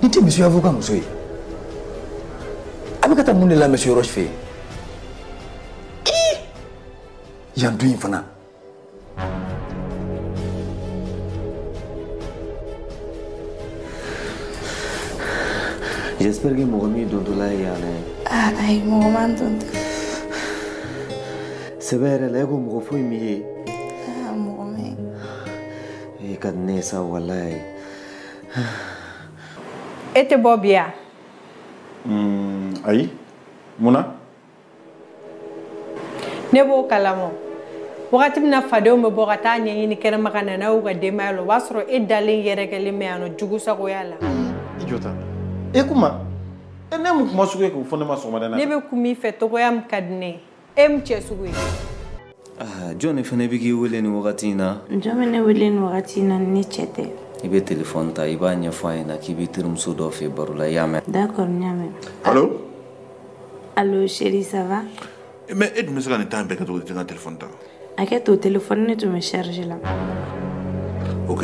Nin tɛ monsieur avocat muso ye a bɛ ka taa mun de la monsieur Roche fɛ yen yan du in fana J'espère que mɔgɔ m'i dontɔla ye yan dɛ. Ayi mɔgɔ ma n dontɔ. sɛbɛ yɛrɛ la e ko mɔgɔ foyi m'i ye mɔgɔ ma n ye e ka di ne ye sa walayi e tɛ bɔ bi wa ayi mun na ne b'o kalama wagati min na fadenw bɛ bɔ ka taa ɲɛɲini kɛnɛma ka na n'a y'u ka denbaya la o b'a sɔrɔ e dalen yɛrɛkɛlen bɛ yan nɔ jugu sagoya la i jɔ tan e ko mun e ne mun kuma sugu ye k'o fɔ ne ma sɔgɔmada in na ne bɛ kuma i fɛ cogoya min ka di ne ye e mun cɛ sugu ye ah, jɔn de fana bɛ k'i wele nin wagati in na jɔn bɛ ne wele nin wagati in na ni ne cɛ tɛ i bɛ telefɔni ta i b'a ɲɛfɔ a ɲɛna k'i bɛ terimuso dɔ fɛ baro la i y'a mɛn d'accord n y'a mɛn allo allo chérie ça va mais e dun bɛ se ka nin temps bɛɛ kɛ cogo di i tɛ n ka telefɔni ta Hakɛ to telefɔni nin tun bɛ charge la. Ok.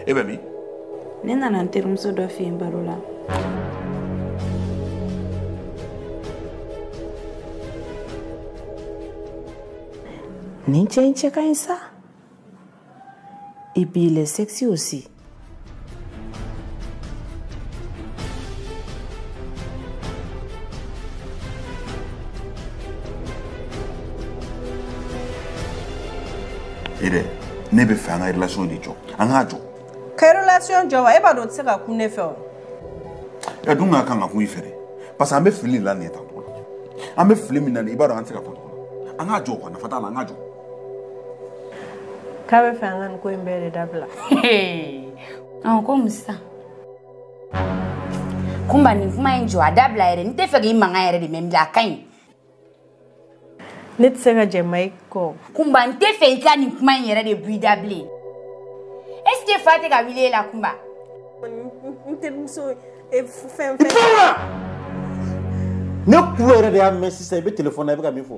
E bɛ min? Ne nana n terimuso dɔ fɛ yen baro la. Nin cɛ in cɛ ka ɲi sa. Et puis il est sexy aussi. Ere, ne bɛ fɛ an ka relation de jɔ an k'a jɔ. ka relation jɔ wa e b'a dɔn o tɛ se ka kun ne fɛ o. A dun ka kan ka kun i fɛ dɛ parce que an bɛ fili de la nin ye tan tɔgɔ la an bɛ fili min na nin i b'a dɔn an tɛ se ka kun tɔgɔ la an k'a jɔ quoi nafa t'a la an k'a jɔ. k'a bɛ fɛ an ka nin ko in bɛɛ de dabila ɔn ko mun sa kunba nin kuma in jɔ a dabila yɛrɛ n tɛ fɛ k'i mankan yɛrɛ de mɛn bilen a ka ɲi ne tɛ se ka jɛn i kɔ kunba n tɛ fɛ i ka nin kuma in yɛrɛ de bɔ i da bilen est ce que fa tɛ ka wuli e la kunba n terimuso ye fɛn fɛn ne kulo yɛrɛ de y'a mɛn sisan i bɛ telefɔni na i bɛ ka min fɔ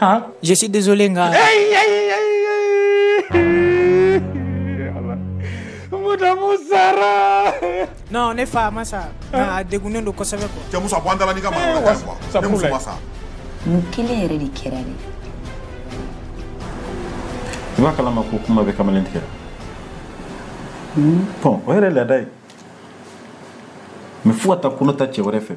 Hein? Je suis désolé, nga. Hey, hey, hey, Madamu sara. Non, ne fa ma sa. Nga a degunnen don kosɛbɛ quoi. Cɛ Musa bɔ an da la n'i ka mara wɛrɛ quoi. Ne muso ma sa. Mun kelen yɛrɛ de kɛra de. I b'a kalama ko Kunba bɛ kamalen tigɛ. Bon o yɛrɛ ye laada ye. Mais fo ka taa kɔnɔ ta cɛ wɛrɛ fɛ.